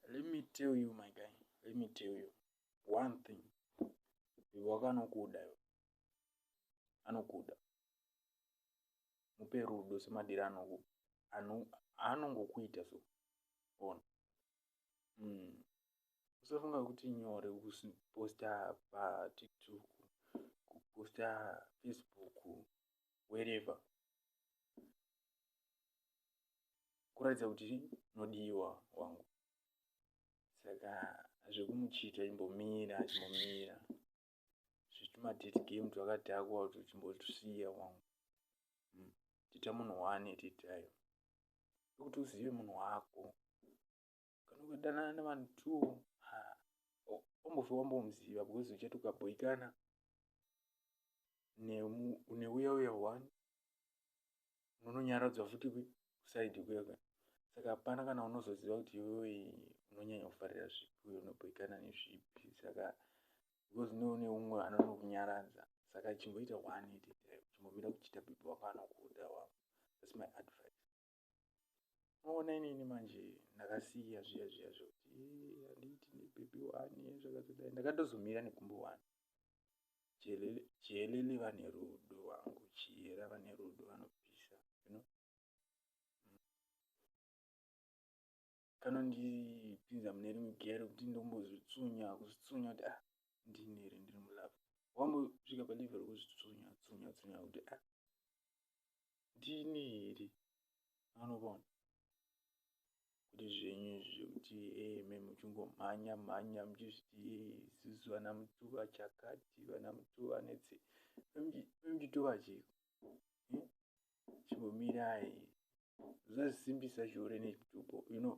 Let me tell you my guy, let me tell you one thing. Bhebhi wako anokuda iwe. Anokuda. Mupe rudo semadira anoku ano anongokuita so. Ona. Mm. Usafunga kuti nyore kuposta pa TikTok, kuposta Facebook, wherever. kuratidza kuti unodiwa wangu saka zvekumuchita imbomira chimbomira zvitumadate game twakadhakwa kuti chimbotusiya wangu hmm. tita munhu one titayo ekuti uzive munhu wako kanokudanana nevanhu two wambofe wambomuziva because uchati ukabhoikana neuya uya one unononyaradzwa futi kusaidi kuya kuya saka hapana kana unozoziva kuti iwewe unonyanya kufarira zvipi uye unobhoikana nezvipi saka because neune umwe anonokunyaradza saka chimboita one iti chimbomira kuchita bibi wako anokuda wako thats my advice maona inini manje ndakasiya zviya zviya zvekuti handiiti nebhebhi wani zvakazodai ndakatozomira nekumbo wani chihelele vane rudo wangu chiyera vane rudo vanopisa you know? kanondipinza mune rimwe geya rekuti ndombozvitsunya kuzvitsunya kuti ah ndini here ndiri mulove wambosvika paleve rekuzvitsunya tsunya tsunya kuti ah ndini here anobona kuti zvenyu zvekuti eme eh, muchingomhanya mhanya muchizviti isusu eh, vana mutuva chakati vana mutuva netse vemchitova chiko chimbomirai zvazisimbisa zvihure nechituko you know